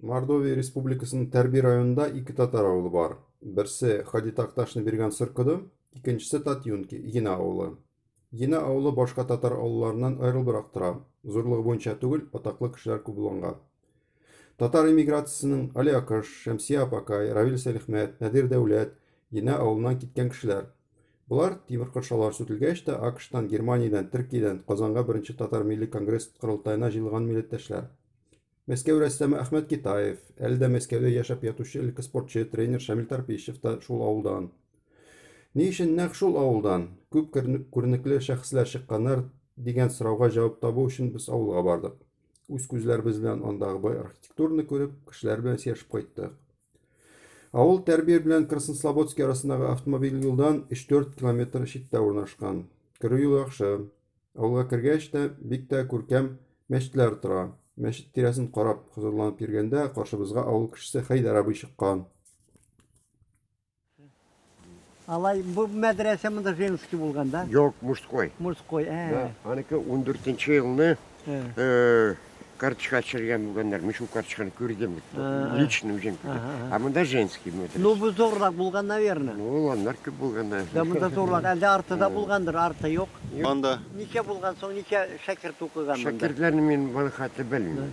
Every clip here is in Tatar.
Мордовия Республикасының Тәрби районында ике татар авылы бар. Берсе Хади Такташны биргән Сыркыды, икенчесе Татюнки, Ена авылы. Ена авылы башка татар авылларыннан аерылбрак тора. Зурлыгы буенча түгел, атаклы кешеләр күп булганга. Татар эмиграциясенең Али Акыш, Шәмсия Апакай, Равил Сәлихмәт, Надир Дәүләт, Ена авылыннан киткән кешеләр. Болар, тимер кыршаулар сүтелгәч тә, АКШтан, Германиядән, Төркиядән Казанга беренче татар милли конгресс корылтаена җыелган милләттәшләр. Мәскәү рәссамы Әхмәт Китаев, әле дә Мәскәүдә яшәп ятучы элекке спортчы, тренер Шамил Тарпищев та шул авылдан. Ни өчен нәкъ шул авылдан? Күп күренекле шәхесләр чыкканнар, дигән сорауга җавап табу өчен без авылга бардык. Үз күзләребез белән андагы бай архитектураны күреп, кешеләр белән сөйләшеп кайттык. Авыл Тәрбир белән Краснослободский арасындагы автомобиль юлдан 3-4 километр читтә урнашкан. Керү юлы яхшы. Авылга кергәч тә бик тә күркәм мәчетләр тора. Мәчет тирәсен карап хозурланып йөргәндә каршыбызга авыл кешесе Хәйдәр абый чыккан. Алай бу мәдрәсә монда женский булган, да? Юк, мужской. Мужской, ә. Да, аныкы 14 елны э карточка төшергән булганнар. Мин шул карточканы күрдем. Лично үзем күрдем. А монда женский мәдрәсә. Ну бу зурлак булган, наверное. Ну, аннар күп булган. Да, монда зурлак. Әлдә арты да булгандыр, арты юк. Анда. Ничә булган соң, ничә шәкерт укыган монда? Шәкертләрне мин баны хәтле белмим.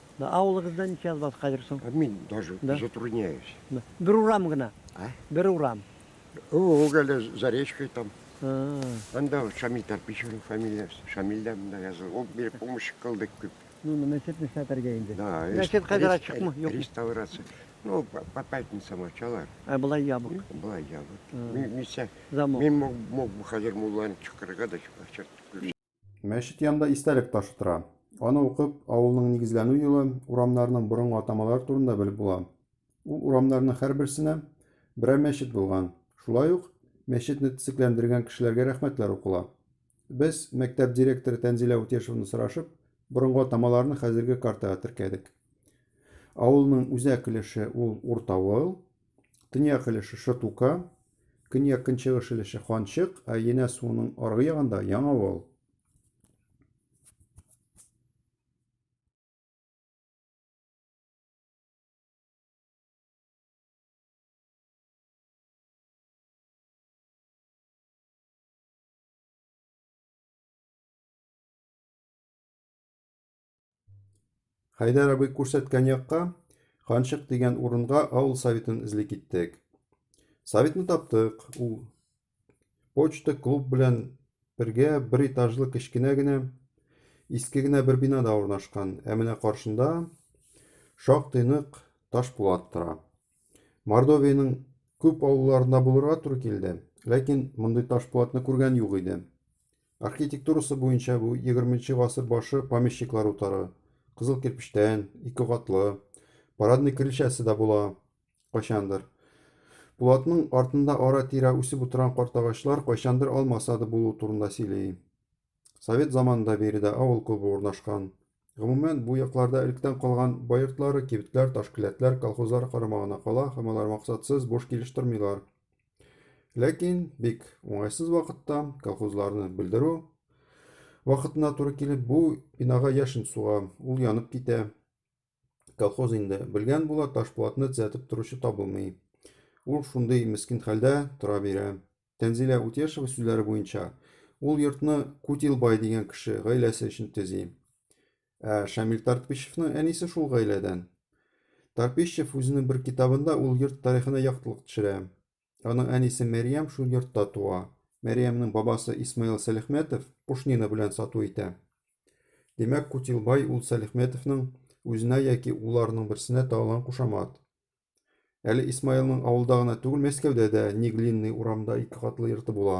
Да, авылыгызда ничә язбас хәзер соң? Ә мин даже Да. затрудняюсь. Да. Бер урам гына. А? Бер урам. Ул әле Заречкой там. А. Анда Шамил Тарпичевның фамилиясе. Шамил дә монда язылган. Ул бер помощник кылды күп. Ну, ну, мәчет нишләтергә инде? Да, рес- Мәчет хәзер рес- ачыкмы, юкмы? Реставрация. Ну, по, по пятницам ачалар. Ә болай ябык. Была я вот. А. Ми- Мисә, Замок. мин мог, мог бы хәзер мулланы чакырырга да чакыртып күрсәтә. Мәчет янында истәлек ташы тора. Аны укып, авылның нигезләнү елы, урамнарның борынгы атамалары турында белеп була. Ул урамнарның һәрберсенә берәр мәчет булган. Шулай ук мәчетне төзекләндергән кешеләргә рәхмәтләр укыла. Без, мәктәп директоры Тәнзилә Утешеваны сорашып, борынгы атамаларны хәзерге картага теркәдек. Авылның үзәк өлеше ул Уртавыл, төньяк өлеше Шытука, Көньяк-көнчыгыш өлеше Ханчык, ә Енә суының аргы ягында Яңавыл. Хәйдәр абый күрсәткән якка, Ханчык дигән урынга авыл советын эзли киттек. Советны таптык. Ул почта клуб белән бергә бер этажлы кечкенә генә иске генә бер бинада урнашкан. Ә менә каршында шактый нык таш булат тора. Мордовиянең күп авылларында булырга туры килде, ләкин мондый ташпулатны күргән юк иде. Архитектурасы буенча бу 20 гасыр башы помещиклар утары, кызыл кирпечтән, ике катлы, парадный крыльчасы да була, кайчандыр. Пулатның артында ара-тирә үсеп утырган картагачлар кайчандыр алма сады булу турында сөйли. Совет заманында биредә авыл клубы урнашкан. Гомумән, бу якларда электән калган бай йортлары, кибетләр, таш келәтләр колхозлар карамагына кала һәм алар максатсыз буш килеш тормыйлар. Ләкин бик уңайсыз вакытта колхозларны бүлдерү вакытына туры килеп, бу бинага яшен суга, ул янып китә. Колхоз инде. Белгән була, ташпулатны төзәтеп торучы табылмый. Ул шундый мескин хәлдә тора бирә. Тәнзилә Утешева сүзләре буенча, ул йортны Кутилбай дигән кеше гаиләсе өчен төзи. Ә Шамил Тартпищевның әнисе шул гаиләдән. Тарпищев үзенең бер китабында ул йорт тарихына яктылык төшерә. Аның әнисе Мәрьям шул йортта туа. Мәрьямнең бабасы Исмаил Сәлихметов пушнина белән сату итә. Димәк, Кутилбай ул Сәлихметовның үзенә яки уларының берсенә тагылган кушамат. Әле Исмаилның авылда гына түгел, Мәскәүдә дә Неглинный урамда ике катлы йорты була.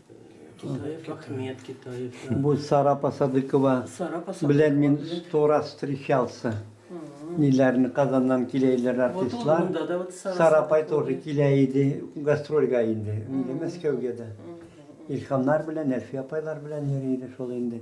Китаев Ахмет, Китаев. Бу Сара Посадыкова белән мин сто раз встречался. Ниләрне Казаннан килә иделәр артистлар. Сара апай тоже килә иде гастрольгә инде, инде Мәскәүгә дә. Илһамнар белән, Әлфия апайлар белән йөри иде шул инде.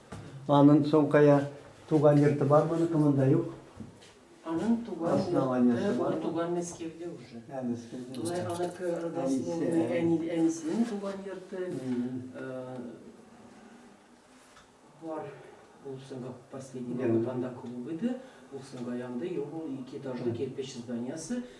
Анын соңкая туган йорты бар моныкы монда юк. Анын туган йорты, ул туган Мәскәүдә уже. Ә, Мәскәүдә. Тулай аныкы родословный, әни, әнисенең туган йорты. Бар. Ул соңга последний балканда клуб иде. Ул соңга янды, юк, ул ике этажлы кирпич зданиясы.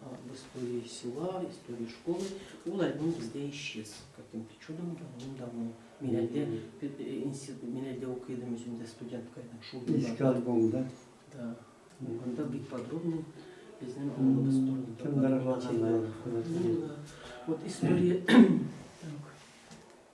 в истории села, в истории школы, ул альбом бездә исчез каким-то чудом давным-давно. Мин әлдә институт, мин әлдә укый идем үземдә студентка идем шул. Иске альбом, да? Да. Анда бик подробно безнең авылыбыз турында. Кемдер аңлатты. Вот история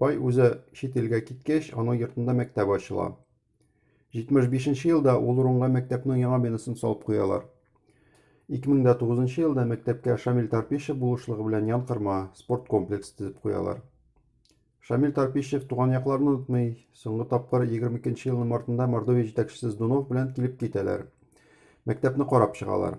Бай үзе чит илгә киткәч, аның йортында мәктәп ачыла. 75 елда ул урынга мәктәпнең яңа бинасын салып куялар. 2009 елда мәктәпкә Шамил Тарпишев булышлыгы белән янкырма спорт комплексы төзеп куялар. Шамил Тарпишев туган якларын онытмый, соңгы тапкыр 22 елның мартында Мордовия җитәкчесе Здунов белән килеп китәләр. Мәктәпне карап чыгалар.